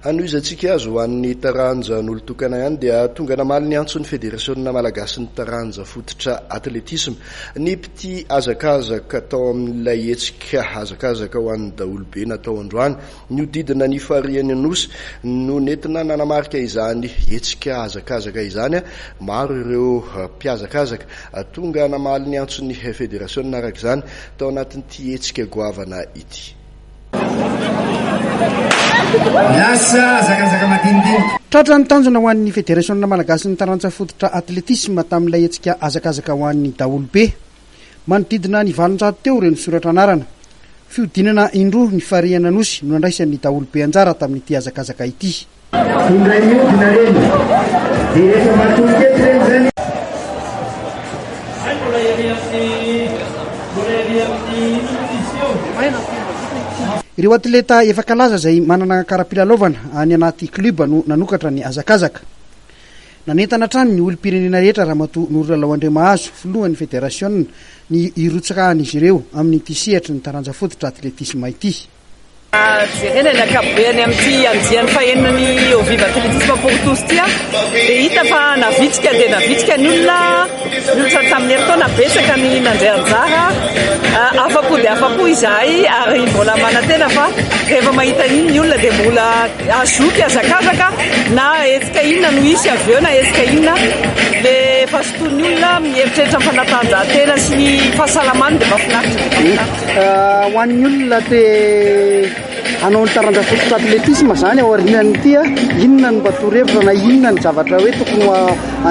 Hanohizantsika azy ho an'ny taranjan'olon-tokana ihany dia tonga namaly ny antson'ny Federasiona malagasin'ny taranja fototra atletisma ny mpitia hazakazaka tao amin'ilay hetsika hazakazaka ho an'ny daholobe natao androany nihodidina ny farihin'ny Nosy no nentina nanamarika izany hetsika hazakazaka izany. Maro ireo mpihazakazaka tonga namaly ny antson'ny Federasiona araka izany tao anatin'ity hetsika goavana ity. Tratra ny tanjona ho an'ny Federasiona malagasin'ny taranja fototra Athletisme tamin'ilay hetsika hazakazaka ho an'ny daholobe. Manodidina ny valonjato teo ireo nisoratra anarana. Fihodinana indroa ny farihin'Anosy no nandraisan'ny daholobe anjara tamin'ity hazakazaka ity. Indray miodina reny dia rehefa matory teto reny zany. Hay mbola ery amin'ny mbola ery amin'ny nutrition. Ireo atleta efa kalaza izay manana kara-pilalaovana any anaty club no nanokatra ny hazakazaka. Nanentana hatrany ny olom-pirenena rehetra Ramatoa Norilalao Andriamahazo, filohan'ny federasiona, ny hirotsaka an'izy ireo amin'ity sehatry ny taranja fototra atletisma ity. jerena ny ankapobeny amin'ity andiany fahenina ny Au Viva Atletisme pour tous ity aho dia hita fa navitsika dia navitsika ny olona ny olona tamin'ny herintaona betsaka ny nandray anjara afa-po dia afa-po izahay ary mbola manantena fa rehefa mahita iny ny olona dia mbola azoky azakazaka na hetsika inona no hisy avy eo na hetsika inona dia efa sotoin'ny olona mieritreritra ny fanatanjahantena sy ny fahasalamany dia mahafinaritra Ho an'ny olona te hanao ny taranja fototra atletisme izany ao aorian'ity, inona no mba torohevitra na inona ny zavatra hoe tokony ho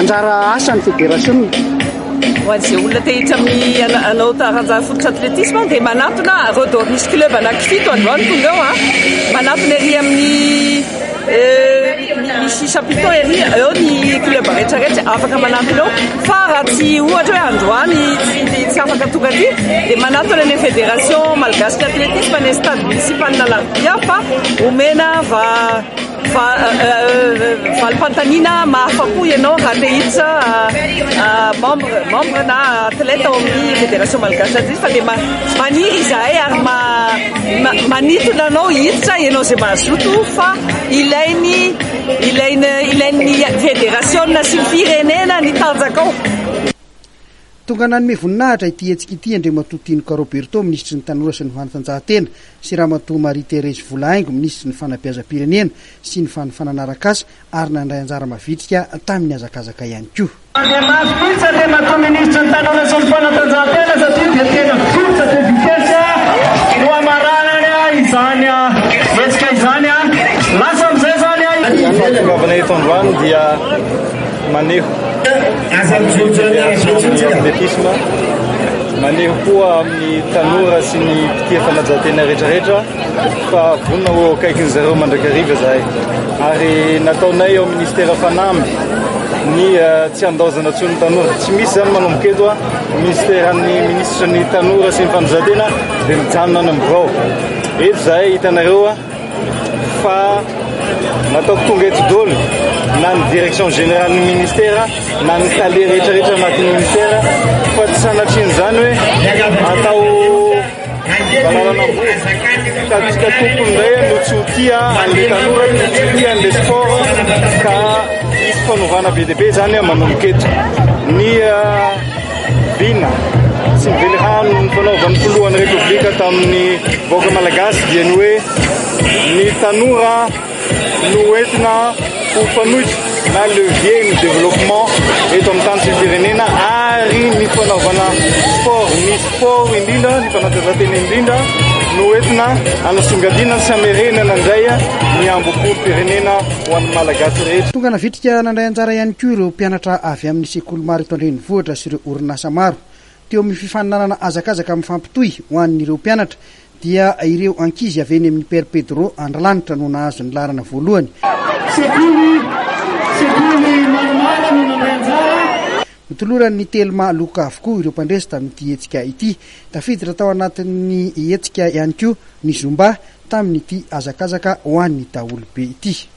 anjara asan'ny federasiona? ho an'izay olona te hiditra amin'ny hanao taranja fototra atletisme dia manatona Redor Muscle Club anankifito androany tonga eo a manatona ery amin'ny Misy chapiteaux ery, eo ny club rehetrarehetra afaka manampy anao fa raha tsy ohatra hoe androany tsy afaka tonga aty dia manatona ny fédération malgache d'athlétisme any amin'ny stade municipal Alarobia fa omena valim-panontaniana mahafa-po ianao raha te hiditra membre membre na athlète ao amin'ny fédération malgache d'athlétisme dia maniry izahay ary Manintona anao hiditra ianao izay mazoto fa ilainy ilainy ilain'ny federasiona sy ny firenena ny tanjakao. Tonga nanome voninahitra ity hetsika ity Andriamatoa Tinoka Roberto, Minisitry ny Tanora sy ny Fanatanjahantena sy Ramatoa Marie Thérèse Volahaingo, Minisitry ny Fanabeazam-pirenena sy ny Fanofanana Arakasa, ary nandray anjara mavitrika tamin'ny hazakazaka ihany koa. Dia mafy mihitsy Andriamatoa Minisitra ny Tanora sy ny Fanatanjahantena satria dia tena vokatra dia vitesse no hamaranany izany hetsika izany. Lasa amin'izay izany i. Fahatongavanay eto androany dia maneho ny asan'ny athlétisme, maneho koa amin'ny tanora sy ny mpitia fanatanjahantena rehetrarehetra. Efa vonona ho akaikin'ny zareo mandrakariva izahay ary nataonay ao Ministera fanamby ny tsy handaozana intsony ny tanora. Tsy misy izany manomboka eto a Ministeran'ny Minisitra ny Tanora sy ny Fanazaran-tena dia mijanona any amin'ny birao. Eto izahay hitanareo fa nataoko tonga eto daholo na ny Direction Générale-n'ny Ministera na ny Tale rehetrarehetra anatin'ny Ministera fa tsy sanatrian'izany hoe atao Valalana Amboa, sady tsika tompony indray no tsy ho tia an'ilay tanora no tsy ho tia an'ilay sport ka hisy fanovana be dia be izany manomboka eto. Ny vina sy ny velirano nifanaovan'ny filohan'ny Repoblika tamin'ny vahoaka malagasy dia ny hoe ny tanora Noentina ho fanoitra na levier ny développement eto amin'ny tany sy ny firenena ary ny fanaovana sport, ny sport indrindra, ny fanatanjahantena indrindra no entina hanasongadinana sy hamerenana indray ny hambom-polom-pirenena ho an'ny Malagasy rehetra. Tonga navitrika nandray anjara ihany koa ireo mpianatra avy amin'ny sekoly maro eto an-drenivohitra sy ireo orinasa maro. Teo amin'ny fifaninanana hazakazaka mifampitohy ho an'ireo mpianatra dia ireo ankizy avy eny amin'ny Père Pedro Andrilanitra no nahazo ny laharana voalohany. Sekoly, sekoly maromaro no nandray anjara. Notoloran'ny Telma loka avokoa ireo mpandresy tamin'ity hetsika ity. Tafiditra tao anatin'ny hetsika ihany koa ny Zumba tamin'ity hazakazaka ho an'ny daholobe ity.